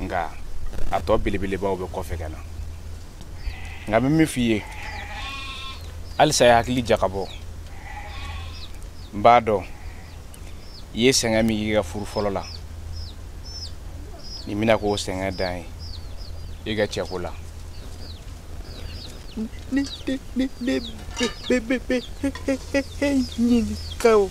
nka a tɔ belebelebaw bɛ kɔfɛ ka na nka n bɛ min f'i ye halisa i hakili jakabɔ n b'a dɔn i ye sɛgɛn min k'i ka furu fɔlɔ la nin bɛna k'o sɛgɛn dan ye i ka cɛko la ne ne ne ne bɛ bɛ bɛ ɲininka o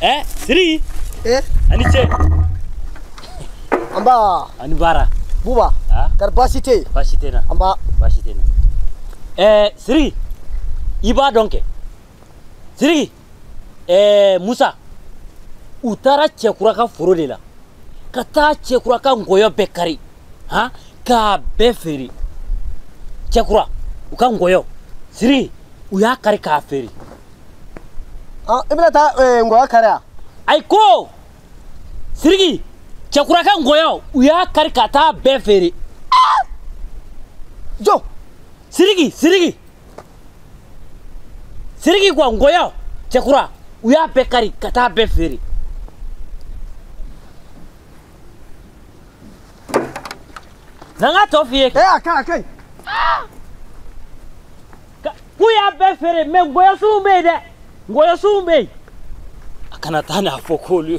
Eh, siri. Eh? Ani ce. An ba. Ani bara. Buba. Ah? Kar baasi tɛ yen. Baasi tɛ na. An ba. Baasi tɛ na. Eh, siri. I b'a dɔn kɛ. Siri. ɛɛ musa u taara cɛkura ka foro de la ka taa cɛkura ka nkɔyɔ bɛɛ kari han k'a bɛɛ feere cɛkura u ka nkɔyɔ siriki u y'a kari k'a feere ah, i bɛna taa eh, nkɔyɔ kari wa ayi ko siriki cɛkura ka nkɔyɔ u y'a kari ka taa bɛɛ feere ah! jo siriki siriki siriki kuwa nkɔyɔ cɛkura u y'a bɛɛ kari ka taa bɛɛ feere na n k'a tɔ f'i ye ee a ka ɲi a ka ɲi k'u y'a bɛɛ feere mɛ nkɔyɔsunw bɛ yen dɛ nkɔyɔsunw bɛ yen a kana taa n'a fɔ k'olu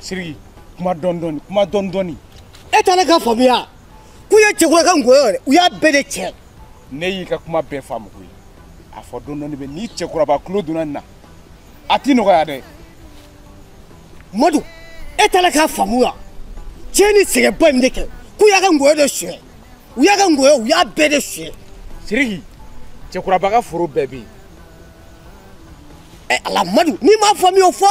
siriki kuma dɔɔni dɔɔni kuma dɔɔni dɔɔni e t'a la k'a faamuya k'u ye cɛkura ka ngɔyɔ yɛrɛ u y'a bɛɛ de tiɲɛ ne y'i ka kuma bɛɛ faamu koyi a fɔ dɔɔni dɔɔni bɛ ni cɛkuraba tulo donna nin na a tɛ nɔgɔya dɛ madu e t'a la k'a faamu wa tiɲɛ ni sɛgɛnba in de kɛ k'u y'a ka ngɔyɔ de suɲɛ u y'a ka ngɔyɔ u y'a bɛɛ de suɲɛ siriki cɛkuraba ka foro bɛɛ bɛ yen ɛ ala madu n'i m'a faamuya o fɔ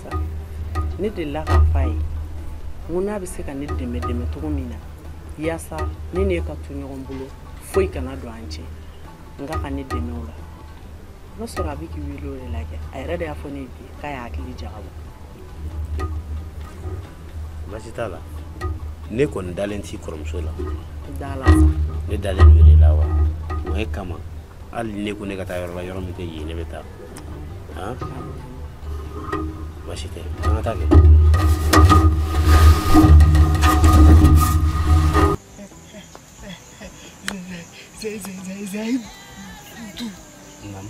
ne delila k'a fɔ a ye n ko n'a bɛ se ka ne dɛmɛ dɛmɛ cogo min na yaasa ne n'e ka to ɲɔgɔn bolo foyi kana don an cɛ n k'a ka ne dɛmɛ o la o b'a sɔrɔ a bɛ k'i wele o de la kɛ a yɛrɛ de y'a fɔ ne ye bi k'a y'a hakili jagabɔ baasi t'a la ne kɔni dalen t'i kɔrɔmuso la d'a la sa ne dalen don e de la wa o de kama hali n'e ko ne ka taa yɔrɔ la yɔrɔ min tɛ yen ne bɛ taa han baasi tɛ an ka taa kɛ Zai, zai, zai, zai. Naamu.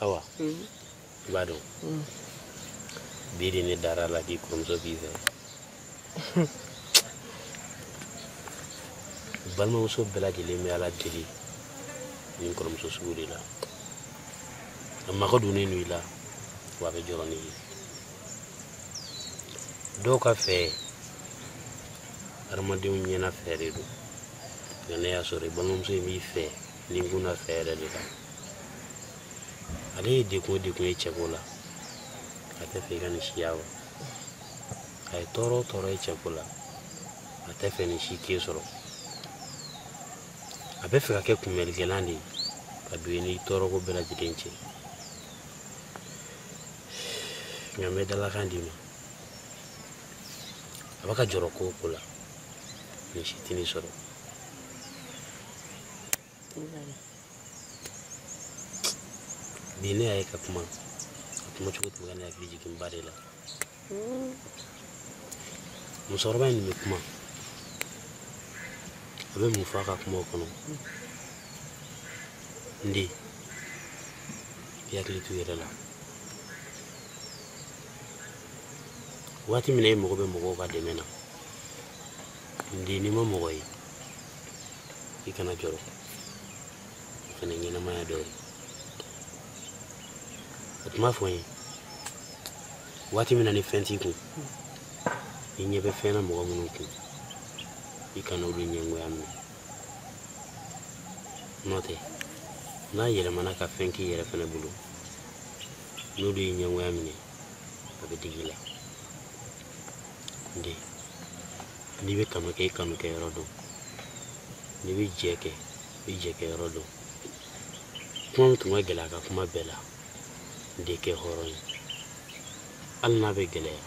awa mm. i b'a dɔn mm. bi de ne dara a la k'i kɔrɔmuso b'i fɛ balimamuso bɛɛ lajɛlen bɛ ala deli nin kɔrɔmuso sugu de la a mago donnen don i la wa a bɛ jɔrɔ n'i ye dɔw ka fɛ hadamadenw ɲɛna fɛ de don nka ne y'a sɔrɔ i balimamuso in b'i fɛ nin kun na fɛ yɛrɛ de kan ale ye degun o degun ye cɛko la a tɛ fɛ i ka nin si ye wa a ye tɔɔrɔ o tɔɔrɔ ye cɛko la a tɛ fɛ nin si k'e sɔrɔ a bɛ fɛ ka kɛ kunbɛlikɛlan de ye ka don i ni tɔɔrɔko bɛɛ lajɛlen cɛ nka n bɛ dalakan d'i ma a bɛ ka jɔrɔ ko o ko la nin si tɛ nin sɔrɔ bi ne y'a ye ka kuma a kuma cogo tun bɛ ka ne hakili jigin ba de la musokɔrɔba in nin bɛ kuma a bɛ mun fɔ a ka kumaw kɔnɔ n den i hakili to i yɛrɛ la waati min na e mago bɛ mɔgɔw ka dɛmɛ na n den n'i ma mɔgɔ ye i kana jɔrɔ o fana ɲɛnamaya dɔ ye a tun b'a fɔ n ye waati min na ni fɛn t'i kun i ɲɛ bɛ fɛn na mɔgɔ minnu kun i kana olu ɲɛngoya minɛ n'o tɛ n'a yɛlɛmana ka fɛn k'i yɛrɛ fana bolo n'olu y'i ɲɛngoya minɛ a bɛ digi i la n den n'i bɛ kanu kɛ i kanu kɛ yɔrɔ dɔn n'i bɛ jɛ kɛ i jɛ kɛ yɔrɔ dɔn kuma min tun ka gɛlɛn a ka kuma bɛɛ la n den kɛ hɔrɔn ye hali n'a bɛ gɛlɛya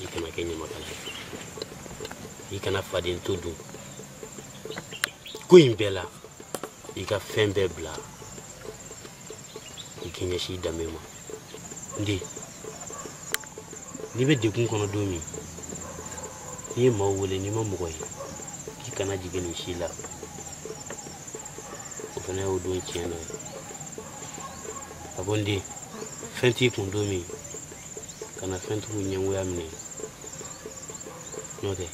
i kana kɛ ɲamakala ye i kana faden to dun ko in bɛɛ la i ka fɛn bɛɛ bila i k'i ɲɛsin i danbe ma n den n'i bɛ degun kɔnɔ don min n'i ye maaw wele n'i ma mɔgɔ ye k'i kana jigin nin si la o fana y'o don tiɲɛ dɔ ye a ko n den fɛn t'i kun don min kana fɛntigiw ɲɛngoya minɛ n'o tɛ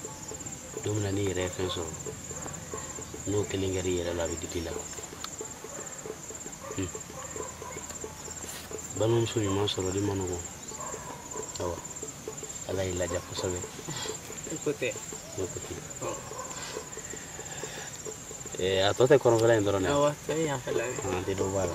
don min na n'i yɛrɛ ye fɛn sɔrɔ n'o kelen kɛra i yɛrɛ la a bɛ digi i la hmm. balimamuso ɲuman sɔrɔli ma nɔgɔn awa ala y'i ladiya kosɛbɛ i ko tɛ i ko tɛ a tɔ tɛ kɔrɔnfɛla in dɔrɔn dɛ awa tɛ yan fɛla ye an tɛ dɔ bɔ a la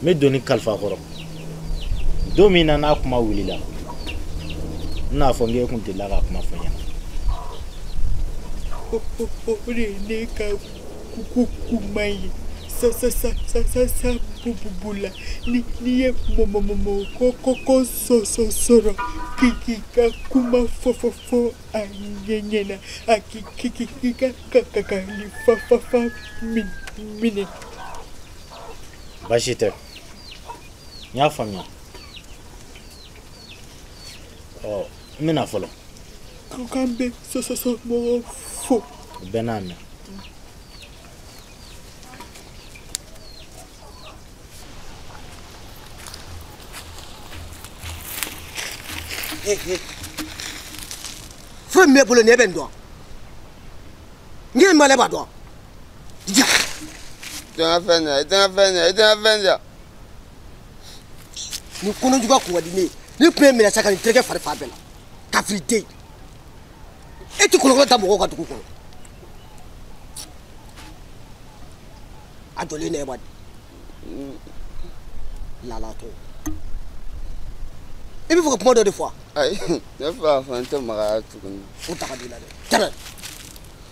n bɛ doni kalifa kɔrɔ don min na n'a kuma wulila n n'a fɔ n k'e kun delila ka kuma fɔ n ɲɛna o de ye ne ka ko kuma ye bula n'i ye mɔmɔmɔmɔkɔkɔ sɔrɔ k'i ka kuma fɔ fɔ fɔ a ɲɛ ɲɛna a k'i ka kakali fa fa fa minɛ baasi tɛ n y'a faamuya ɔ n bɛna fɔlɔ aw k'an bɛ sɔsɔsɔ mɔgɔw fo u bɛɛ n'a mɛn fɛn min bɛ bolo nin e bɛ n dɔn n ye malɛ b'a dɔn Tanga fɛn ɲa, i tanga fɛn ɲa, i tanga fɛn ɲa. Ni kɔnɔ jugu a kun ka di ne ye, ne tun ye minɛ sa ka nin tereke fari fan bɛɛ la. Kafiri den. E ti kolokolo da mɔgɔw ka dugu kɔnɔ. A jɔlen ne ba di. Lala to. I b'a fɛ ka kuma dɔ de fɔ wa? Ayi, ne fa fɔ n tɛ magaya tuguni. O daga b'i la dɛ. Tɛmɛ.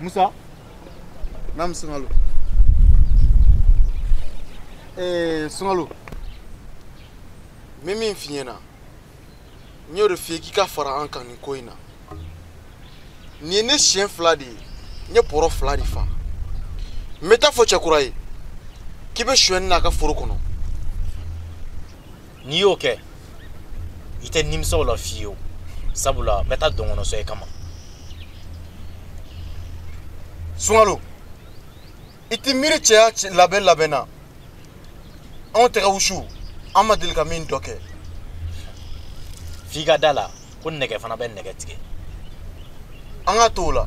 musa namu sungalo ee eh, sungalo n bɛ min f'i ɲɛna n y'o de f'i ye k'i ka fara an kan nin ko in na nin ye ne siɲɛ fila de ye n ye bɔrɔ fila de fa n bɛ taa a fɔ cɛkura ye k'i bɛ sonyɛni na a ka foro kɔnɔ n'i y'o kɛ i tɛ nimisa o la fiyewu sabula n bɛ taa dɔnkɔnɔ sɔn e kama sungalo i t'i miiri cɛya labɛn labɛn na anw tɛgɛ wusu an ma deli ka min dɔ kɛ f'i ka da a la ko nɛgɛ fana bɛ nɛgɛ tigɛ an k'a to o la